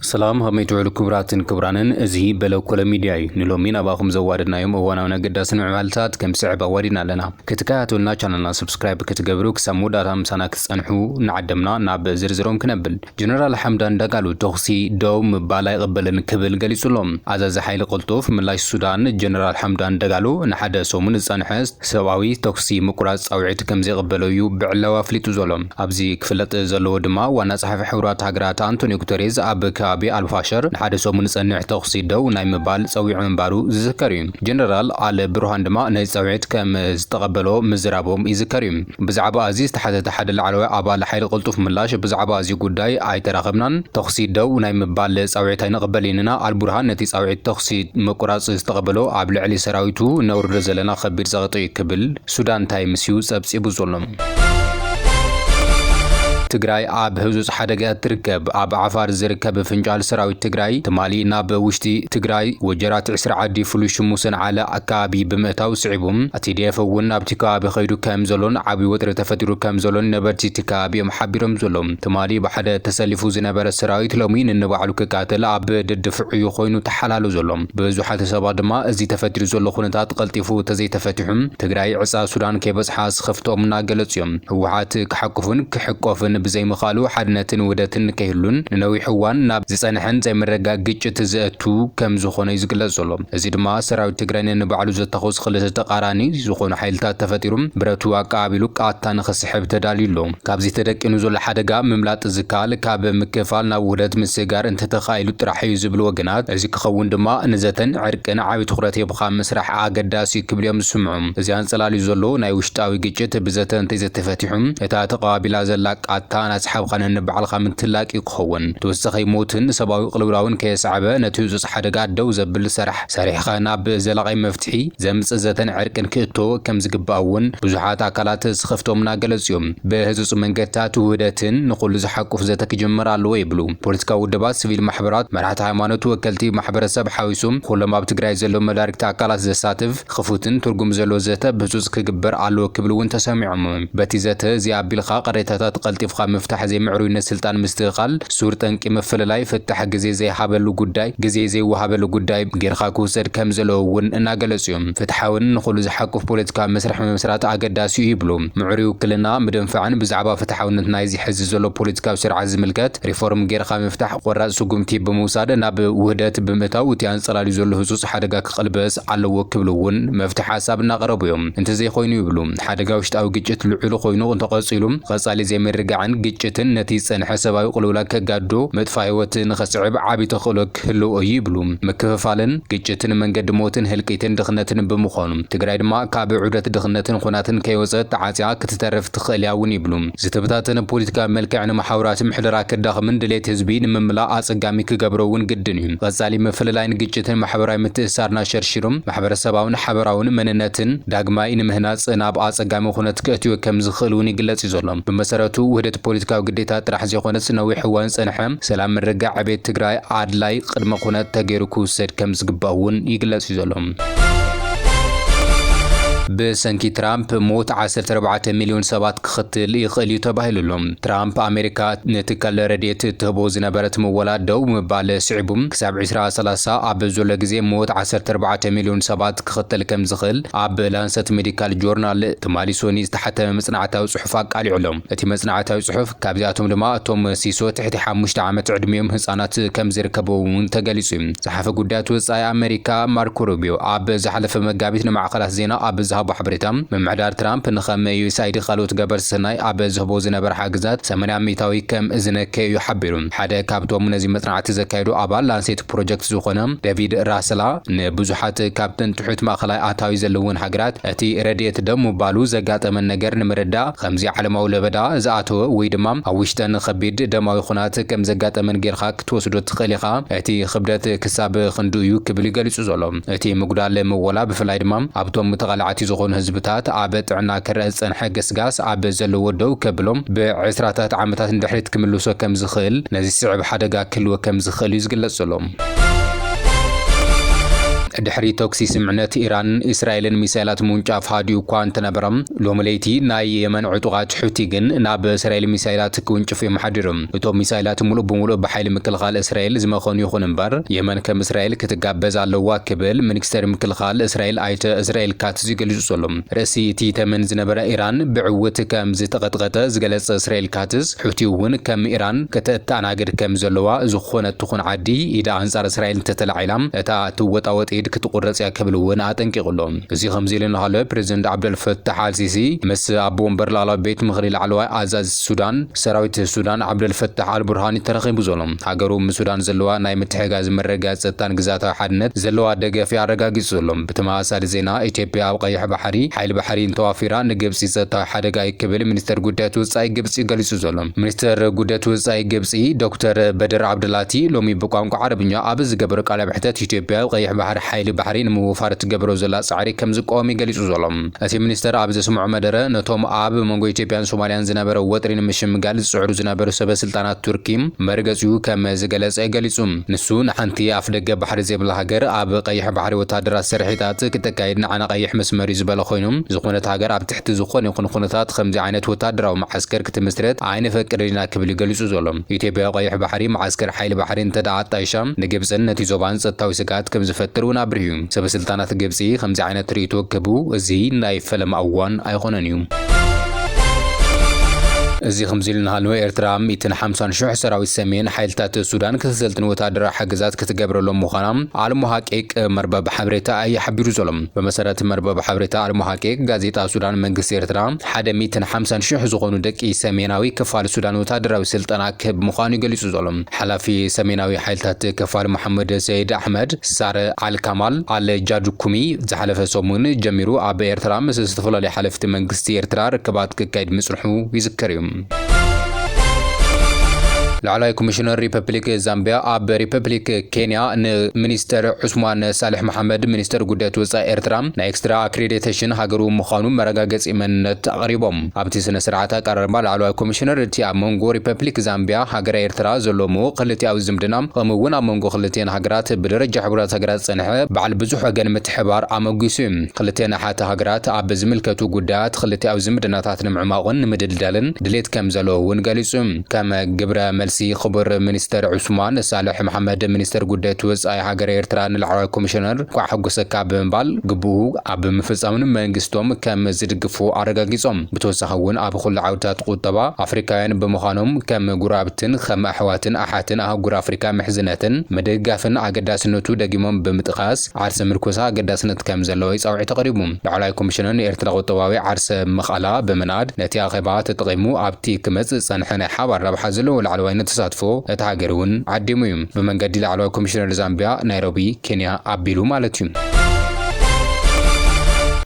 ሰላም ሃብመይ ትውዕሉ ክቡራትን ክቡራንን እዚ በለኮለ ሚድያ እዩ ንሎሚ ናባኹም ዘዋደድናዮም እዋናውን ኣገዳስን ምዕባልታት ከም ስዕብ ኣዋዲድና ኣለና ክትከታተሉና ቻናልና ሰብስክራይብ ክትገብሩ ክሳብ መወዳእታ ምሳና ክትጸንሑ እናዓደምና ናብ ዝርዝሮም ክነብል ጀነራል ሓምዳን ዳጋሎ ተኹሲ ደው ምባል ኣይቕበልን ክብል ገሊጹ ኣሎ። ኣዛዚ ሓይሊ ቅልጡፍ ምላሽ ሱዳን ጀነራል ሓምዳን ዳጋሎ ንሓደ ሰሙን ዝጸንሐ ሰብኣዊ ተኹሲ ምቁራጽ ጻውዒት ከምዘይቕበሎ'ዩ ብዕላዊ ኣፍሊጡ ዘሎ። ኣብዚ ክፍለጥ ዘለዎ ድማ ዋና ጸሓፊ ሕቡራት ሃገራት ኣንቶንዮ ጉተሬዝ ኣብ ከባቢ ኣልፋሸር ንሓደ ሰሙን ዝጸንሕ ተኹሲ ደው ናይ ምባል ጸዊዑ ምንባሩ ዝዝከር'ዩ። ጀነራል ኣል ቡርሃን ድማ ነዚ ጻውዒት ከም ዝተቐበሎ ምዝራቦም ይዝከር'ዩ። ብዛዕባ'ዚ ዝተሓተተ ሓደ ላዕለዋይ ኣባል ሓይሊ ቅልጡፍ ምላሽ፣ ብዛዕባ'ዚ ጉዳይ ኣይተራኸብናን፣ ተኹሲ ደው ናይ ምባል ጻውዒት ኣይንቕበልን ኢና፣ ኣልቡርሃን ነቲ ጻውዒት ተኹሲ ምቁራጽ ዝተቐበሎ ኣብ ልዕሊ ሰራዊቱ ነውርዶ ዘለና ከቢድ ጸቕጢ'ዩ ክብል ሱዳን ታይምስ'ዩ ጸብጺቡ ዘሎ። ትግራይ ኣብ ህጹጽ ሓደጋ'ያ እትርከብ፣ ኣብ ዓፋር ዝርከብ ፍንጫል ሰራዊት ትግራይ ትማሊ ናብ ውሽጢ ትግራይ ወጀራት ዕስራ ዓዲ ፍሉይ ሽሙ ሰንዓለ ኣከባቢ ብምእታው ስዒቡ ቲዲኤፍ እውን ኣብቲ ከባቢ ከይዱ ከም ዘሎን ዓብዪ ወጥሪ ተፈጢሩ ከም ዘሎን ነበርቲ እቲ ከባቢ እዮም ሓቢሮም ዘሎው። ትማሊ ብሓደ ተሰሊፉ ዝነበረ ሰራዊት ሎሚ ነንባዕሉ ክቃተል ኣብ ደድፍዑ እዩ ኮይኑ ተሓላሉ ዘሎ። ብዙሓት ሰባት ድማ እዚ ተፈጢሩ ዘሎ ኩነታት ቐልጢፉ ተዘይተፈቲሑ ትግራይ ዕፃ ሱዳን ከይበፅሓ ስኽፍትኦም እናገለፁ እዮም። ህወሓት ክሓቁፍን ክሕቆፍን ብዘይምኽኣሉ ሓድነትን ውህደትን ከይህሉን ንነዊሕ እዋን ናብ ዝፀንሐን ዘይምርግጋእ ግጭት ዘእቱ ከም ዝኾነ እዩ ዝግለፅ ዘሎ። እዚ ድማ ሰራዊት ትግራይ ነንባዕሉ ዘታኹስ ኽልተ ተቃራኒ ዝኾኑ ሓይልታት ተፈጢሩ ብረቱ ኣቀባቢሉ ቃታ ንኽስሕብ ተዳልዩ ኣሎ። ካብዚ ተደቂኑ ዘሎ ሓደጋ ምምላጥ ዝከኣል ካብ ምክፍፋል ናብ ውህደት ምስግጋር እንተተኻኢሉ ጥራሕ እዩ ዝብሉ ወገናት፣ እዚ ክኸውን ድማ ንዘተን ዕርቅን ዓብይ ትኹረት ሂብኻ ምስራሕ ኣገዳሲ እዩ ክብሉ እዮም ዝስምዑ። እዚ ኣንፀላልዩ ዘሎ ናይ ውሽጣዊ ግጭት ብዘተ እንተይዘተፈቲሑ እታ ተቀባቢላ ዘላ ቃታ እናስሓብኻ ነንባዕልኻ ምትላቅ እዩ። ክኸውን ተወሳኺ ሞትን ሰባዊ ቅልውላውን ከየስዓበ ነቲ ህጹጽ ሓደጋ ደው ዘብል ሰራሕ ሰሪሕኻ ናብ ዘላቒ መፍትሒ ዘምጽእ ዘተን ዕርቅን ክእቶ ከምዝግባእ እውን ብዙሓት ኣካላት ስኽፍትኦም እናገለጹ እዮም። ብህጹጽ መንገድታት ውህደትን ንኹሉ ዝሓቁፍ ዘተ ክጅመር ኣለዎ ይብሉ ፖለቲካዊ ውድባት፣ ስቪል ማሕበራት፣ መራሕቲ ሃይማኖት፣ ወከልቲ ማሕበረሰብ ሓዊሱ ኩሎም ኣብ ትግራይ ዘለዉ መዳርግቲ ኣካላት ዘሳትፍ ኽፉትን ትርጉም ዘለዎ ዘተ ብህጹጽ ክግበር ኣለዎ ክብል እውን ተሰሚዖም። በቲ ዘተ እዚ ኣቢልካ ቕሬታታት ቐልጢፍካ ምፍታሕ ዘይምዕሩይነት ስልጣን ምስትኽኻል ሱር ጠንቂ ምፍልላይ ፍታሕ ግዜ ዘይሃበሉ ጉዳይ ግዜ ዘይወሃበሉ ጉዳይ ጌርካ ክውሰድ ከምዘለዎ እውን እናገለጹ እዮም። ፍትሓውን ንኹሉ ዝሓቁፍ ፖለቲካዊ መስርሕ ምምስራት ኣገዳሲ እዩ ይብሉ። ምዕሩይ ውክልና ምድንፋዕን ብዛዕባ ፍትሓውነት ናይዚ ሕዚ ዘሎ ፖለቲካዊ ስርዓት ዝምልከት ሪፎርም ጌርካ ምፍታሕ ቖራጽ ስጉምቲ ብምውሳድ ናብ ውህደት ብምእታው እቲ ኣንጸላልዩ ዘሎ ህጹጽ ሓደጋ ክቕልበስ ኣለዎ ክብሉ እውን መፍትሒ ሓሳብ እናቐረቡ እዮም። እንተዘይኮይኑ ይብሉ ሓደጋ ውሽጣዊ ግጭት ልዑሉ ኮይኑ እንተቐፂሉ ቐፃሊ ዘይምርግጋዕን ግጭትን ነቲ ዝፀንሐ ሰብኣዊ ቕልውላግ ከጋድዶ፣ ምጥፋእ ህይወት ንኸስዕብ ዓብዪ ተኽእሎ ክህልዎ እዩ ይብሉ። ምክፍፋልን ግጭትን መንገዲ ሞትን ህልቂትን ድኽነትን ብምዃኑ ትግራይ ድማ ካብ ዑደት ድኽነትን ኹናትን ከይወፀት ተዓፂያ ክትተርፍ ትኽእል እያ እውን ይብሉ። ዝተበታተነ ፖሊቲካዊ መልክዕ ንመሓውራት ምሕደራ ከዳኽምን ድሌት ህዝቢ ንምምላእ ኣጸጋሚ ክገብሮ እውን ግድን እዩ። ቐጻሊ ምፍልላይን ግጭትን ማሕበራዊ ምትእስሳርና ሸርሺሩ ማሕበረሰባውን ሓበራውን መንነትን ዳግማይ ንምህናጽ ናብ ኣጸጋሚ ኩነት ከእትዮ ከም ዝኽእል እውን ይግለጽ እዩ ዘሎ። ብመሰረቱ ውህደት ፖሊቲካዊ ግዴታ ጥራሕ ዘይኮነስ ነዊሕ እዋን ዝጸንሐ ሰላም ምርግጋዕ ዕቤት ትግራይ ኣድላይ ቕድመ ኩነት ተገይሩ ክውሰድ ከም ዝግባእ እውን ይግለጽ እዩ ዘሎ። ብሰንኪ ትራምፕ ሞት ዓሰርተ ኣርባዕተ ሚልዮን ሰባት ክኽትል ይኽእል እዩ ተባሂሉ'ሎ። ትራምፕ ኣሜሪካ ንትካል ረድኤት እትህቦ ዝነበረት ምወላ ደው ምባል ስዒቡ ክሳብ ዕስራ ሰላሳ ኣብ ዘሎ ግዜ ሞት ዓሰርተ ኣርባዕተ ሚልዮን ሰባት ክኽትል ከም ዝኽእል ኣብ ላንሰት ሜዲካል ጆርናል ትማሊ ሶኒ ዝተሓተመ መጽናዕታዊ ጽሑፍ ኣቃሊዑ'ሎ። እቲ መጽናዕታዊ ጽሑፍ ካብዚኣቶም ድማ እቶም ሲሶ ትሕቲ ሓሙሽተ ዓመት ዕድሚኦም ህጻናት ከም ዝርከብዎም'ውን ተገሊጹ'ዩ። ጸሓፊ ጉዳያት ወጻኢ ኣመሪካ ማርኮ ሩቢዮ ኣብ ዝሓለፈ መጋቢት ንማዕኸናት ዜና ኣብ ዝሃቦ ሓበሬታ ምምሕዳር ትራምፕ ንከም ዩኤስኣይዲ ካልኦት ገበርቲ ሰናይ ኣብ ዝህቦ ዝነበረ ሓግዛት ሰማንያ ሚታዊ ከም ዝነከየ እዩ ሓቢሩ። ሓደ ካብቶም ነዚ መጽናዕቲ ዘካየዱ ኣባል ላንሴት ፕሮጀክት ዝኾነ ደቪድ ራሰላ ንብዙሓት ካብተን ትሑት ማእኸላይ ኣታዊ ዘለወን ሃገራት እቲ ረድኤት ደው ምባሉ ዘጋጠመን ነገር ንምርዳእ ከምዚ ዓለማዊ ለበዳ ዝኣተወ ወይ ድማ ኣብ ውሽጠን ኸቢድ ደማዊ ኹናት ከም ዘጋጠመን ጌርኻ ክትወስዶ ትኽእል ኢኻ፣ እቲ ክብደት ክሳብ ክንድኡ እዩ ክብል እዩ ገሊጹ ዘሎ። እቲ ምጉዳል ምወላ ብፍላይ ድማ ኣብቶም ተቓላዕቲ ዝኾኑ ህዝብታት ኣብ ጥዕና ክረኣ ዝጸንሐ ገስጋስ ኣብ ዘለዎ ደው ከብሎ ብዕስራታት ዓመታት ንድሕሪት ክምልሶ ከም ዝኽእል ነዚ ዝስዕብ ሓደጋ ክህልዎ ከም ዝኽእል እዩ ዝግለጽ ዘሎ። ድሕሪ ተኩሲ ስምዕነት ኢራንን እስራኤልን ሚሳይላት ምውንጫፍ ሃዲኡ እኳ እንተነበረ፣ ሎሚ ለይቲ ናይ የመን ዕጡቓት ሑቲ ግን ናብ እስራኤል ሚሳይላት ክውንጭፉ እዮም ሓዲሮም። እቶም ሚሳይላት ሙሉእ ብሙሉእ ብሓይሊ ምክልኻል እስራኤል ዝመኸኑ ይኹን እምበር የመን ከም እስራኤል ክትጋበዝ ኣለዋ ክብል ሚኒስተር ምክልኻል እስራኤል ኣይተ እስራኤል ካትዝ ገሊጹ'ሎ። ርእሲ እቲ ተመን ዝነበረ ኢራን ብዕውት ከም ዝተቐጥቀጠ ዝገለጸ እስራኤል ካትዝ ሑቲ'ውን ከም ኢራን ከተእተኣናግድ ከም ዘለዋ ዝኾነት ትኹን ዓዲ ኢዳ ኣንጻር እስራኤል እንተተላዒላ እታ እትወጣወጥ ኢድ ክትቑረጽ'ያ ክብል'ውን ኣጠንቂቑ'ሎ። እዚ ከምዚ'ሉ እናሃለወ ፕረዚደንት ዓብደልፈታሕ ኣልሲሲ ምስ ኣቦ ወንበር ላዕለዋይ ቤት ምኽሪ ላዕለዋይ ኣዛዚ ሱዳን፣ ሰራዊት ሱዳን ዓብደል ፈታሕ ኣል ቡርሃኒ ተረኺቡ ዘሎ ሃገሩ ምስ ሱዳን ዘለዋ ናይ ምትሕግጋዝ መረጋገጺ ጸጥታን ግዝኣታዊ ሓድነት ዘለዋ ደገፍ እዩ ኣረጋጊጹ ዘሎ። ብተመሳሳሊ ዜና ኢትዮጵያ ኣብ ቀይሕ ባሕሪ ሓይሊ ባሕሪ እንተዋፊራ ንግብጺ ጸጥታዊ ሓደጋ እዩ ክብል ሚኒስተር ጉዳያት ወጻኢ ግብጺ ገሊጹ ዘሎ። ሚኒስተር ጉዳያት ወጻኢ ግብጺ ዶክተር በድር ዓብደላቲ ሎሚ ብቋንቋ ዓረብኛ ኣብ ዝገበሮ ቃለ መሕተት ኢትዮጵያ ኣብ ቀይሕ ባሕሪ ሓይሊ ባሕሪ ንምውፋር እትገብሮ ዘላ ጻዕሪ ከም ዝቃወም እዩ ገሊጹ ዘሎ። እቲ ሚኒስተር ኣብ ዘስምዖ መደረ፣ ነቶም ኣብ መንጎ ኢትዮጵያን ሶማልያን ዝነበረ ወጥሪ ንምሽምጋል ዝጽዕሩ ዝነበሩ ሰበ ስልጣናት ቱርኪ መርገጺኡ ከም ዝገለጸ ገሊጹ። ንሱ፣ ንሓንቲ ኣፍደገ ባሕሪ ዘይብላ ሃገር ኣብ ቀይሕ ባሕሪ ወተሃደራት ስርሒታት ክተካይድ ንዓና ቀይሕ መስመር'ዩ ዝበለ ኮይኑ፣ ዝኾነት ሃገር ኣብ ትሕቲ ዝኾነ ይኹን ኩነታት ኸምዚ ዓይነት ወተሃደራዊ መዓስከር ክትምስርት ኣይነፈቅድን ኢና ክብል'ዩ ገሊጹ ዘሎ። ኢትዮጵያ ኣብ ቀይሕ ባሕሪ መዓስከር ሓይሊ ባሕሪ እንተድኣ ኣጣይሻ ንግብጽን ነቲ ዞባን ጸጥታዊ ስግኣት ከም ዝፈጥር'ውን ኣብሪሁ። ሰበስልጣናት ግብጺ ከምዚ ዓይነት ርእይቶ ክህቡ እዚ ናይ ፈለማ እዋን ኣይኮነን እዩ። እዚ ከምዚ ኢሉ እናሃለወ ኤርትራ ሚእትን ሓምሳን ሽሕ ሰራዊት ሰሜን ሓይልታት ሱዳን ክተሰልጥን ወተሃደራዊ ሓገዛት ክትገብረሎም ምዃና ኣልሞ ሃቂቅ መርበብ ሓበሬታ ኣዩ ሓቢሩ ዘሎ። ብመሰረት መርበብ ሓበሬታ ኣልሞ ሃቂቅ ጋዜጣ ሱዳን መንግስቲ ኤርትራ ሓደ ሚእትን ሓምሳን ሽሕ ዝኾኑ ደቂ ሰሜናዊ ክፋል ሱዳን ወተሃደራዊ ስልጠና ክህብ ምዃኑዩ ገሊጹ ዘሎ። ሓላፊ ሰሜናዊ ሓይልታት ከፋል መሓመድ ሰይድ ኣሕመድ ሳረ ኣል ካማል ኣል ጃድኩሚ ዝሓለፈ ሰሙን ጀሚሩ ኣብ ኤርትራ ምስ ዝተፈላለዩ ሓለፍቲ መንግስቲ ኤርትራ ርክባት ክካየድ ምጽንሑ ይዝከር እዩ። ላዕላይ ኮሚሽነር ሪፐብሊክ ዛምቢያ ኣብ ሪፐብሊክ ኬንያ ንሚኒስተር ዑስማን ሳልሕ መሓመድ ሚኒስተር ጉዳያት ወፃኢ ኤርትራ ናይ ኤክስትራ ኣክሬዲቴሽን ሃገሩ ምዃኑ መረጋገፂ መንነት ኣቕሪቦም። ኣብቲ ስነ-ስርዓት ኣቀራርባ ላዕለዋይ ኮሚሽነር እቲ ኣብ መንጎ ሪፐፕሊክ ዛምቢያ ሃገረ ኤርትራ ዘሎ ምዉቕ ክልቲኣዊ ዝምድና ከምኡ እውን ኣብ መንጎ ክልቲኤን ሃገራት ብደረጃ ሕቡራት ሃገራት ዝጸንሐ በዓል ብዙሕ ወገን ምትሕብባር ኣመጒሱ ክልቲኤን ኣሓቲ ሃገራት ኣብ ዝምልከቱ ጉዳያት ክልቲኣዊ ዝምድናታት ንምዕሟቑን ንምድልዳልን ድሌት ከምዘለዎ እውን ገሊጹ ከም ግብረ መልሲ ክቡር ሚኒስተር ዑስማን ሳልሕ መሓመድ ሚኒስተር ጉዳይት ወጻኢ ሃገረ ኤርትራ ንላዕለዋይ ኮሚሽነር እንቋዕ ሓጎሰካ ብምባል ግቡኡ ኣብ ምፍፃም ንመንግስቶም ከም ዝድግፉ ኣረጋጊፆም። ብተወሳኺ እውን ኣብ ኹሉ ዓውድታት ቁጠባ ኣፍሪካውያን ብምዃኖም ከም ጉረባብትን ኸም ኣሕዋትን ኣሓትን ኣህጉር ኣፍሪካ ምሕዝነትን ምድግጋፍን ኣገዳስነቱ ደጊሞም ብምጥቓስ ዓርሰ ምርኮሳ ኣገዳስነት ከም ዘለዎ ፃውዒት ኣቕሪቡ። ላዕለዋይ ኮሚሽነር ንኤርትራ ቁጠባዊ ዓርሰ ምኽእላ ብምናድ ነቲ ኣኼባ ተጠቒሙ ኣብቲ ክመፅእ ዝፀንሐ ናይ ሓባር ረብሓ ዘለዎ ላዕለዋይነት ተሳትፎ እታ ሃገር እውን ዓዲሙ እዩ። ብመንገዲ ላዕለዋይ ኮሚሽነር ዛምቢያ፣ ናይሮቢ፣ ኬንያ፣ ኣቢሉ ማለት እዩ።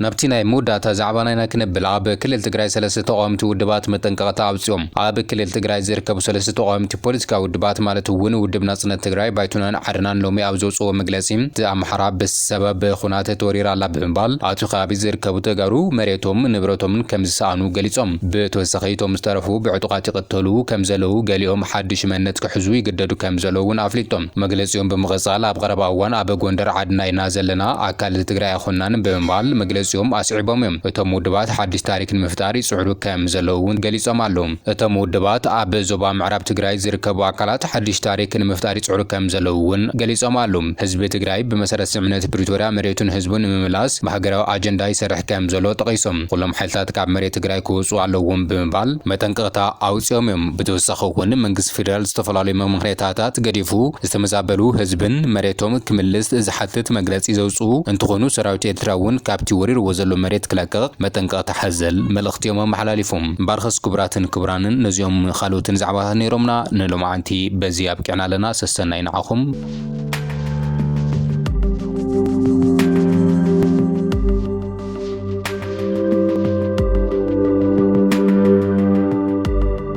ናብቲ ናይ መወዳእታ ዛዕባ ናይና ክነብል ኣብ ክልል ትግራይ ሰለስተ ተቃወምቲ ውድባት መጠንቀቅታ ኣውጺኦም። ኣብ ክልል ትግራይ ዝርከቡ ሰለስተ ተቃወምቲ ፖለቲካዊ ውድባት ማለት እውን ውድብ ናጽነት ትግራይ፣ ባይቶናን ዓረናን ሎሚ ኣብ ዘውጽእዎ መግለጺ እቲ ኣምሓራ ብ። ሰበብ ብኹናት ተወሪራ ኣላ ብምባል ኣብቲ ከባቢ ዝርከቡ ተጋሩ መሬቶም ንብረቶምን ከምዝሰኣኑ ገሊፆም። ብተወሳኺ እቶም ዝተረፉ ብዕጡቓት ይቕተሉ ከምዘለው ገሊኦም ሓዱሽ መንነት ክሕዙ ይግደዱ ከምዘለው እውን ኣፍሊጦም። መግለፂኦም ብምቕፃል ኣብ ቐረባ እዋን ኣብ ጎንደር ዓድና ኢና ዘለና ኣካል እዚ ትግራይ ኣይኾንናን ብምባል መግለፂኦም ኣስዒቦም እዮም። እቶም ውድባት ሓዱሽ ታሪክ ንምፍጣር ይፅዕሩ ከምዘለው እውን ገሊፆም ኣለው። እቶም ውድባት ኣብ ዞባ ምዕራብ ትግራይ ዝርከቡ ኣካላት ሓድሽ ታሪክ ንምፍጣር ይፅዕሩ ከምዘለዉ እውን ገሊፆም ኣሉ። ህዝቢ ትግራይ ብመሰረት ስምምዕነት ፕሪቶርያ መሬቱን ህዝቡን ንምምላስ ብሃገራዊ ኣጀንዳ ይሰርሕ ከምዘሎ ጠቒሶም ኹሎም ሓይልታት ካብ መሬት ትግራይ ክወፅኡ ኣለዎም ብምባል መጠንቀቕታ ኣውፂኦም እዮም። ብተወሳኺ እውን መንግስቲ ፌዴራል ዝተፈላለዩ መምኽሬታታት ገዲፉ ዝተመዛበሉ ህዝብን መሬቶም ክምልስ ዝሓትት መግለፂ ዘውፅኡ እንትኾኑ ሰራዊት ኤርትራ እውን ካብቲ ወሪርዎ ዘሎ መሬት ክለቅቕ መጠንቀቕታ ሓዘል መልእኽቲ እዮም ኣመሓላሊፎም። እምበኣርከስ ክቡራትን ክቡራንን ነዚኦም ን ካልኦትን ዛዕባታት ነይሮምና ንሎምዓንቲ በዚ ኣብቂዕና ኣለና ሰሰናዩ ንዓኹም።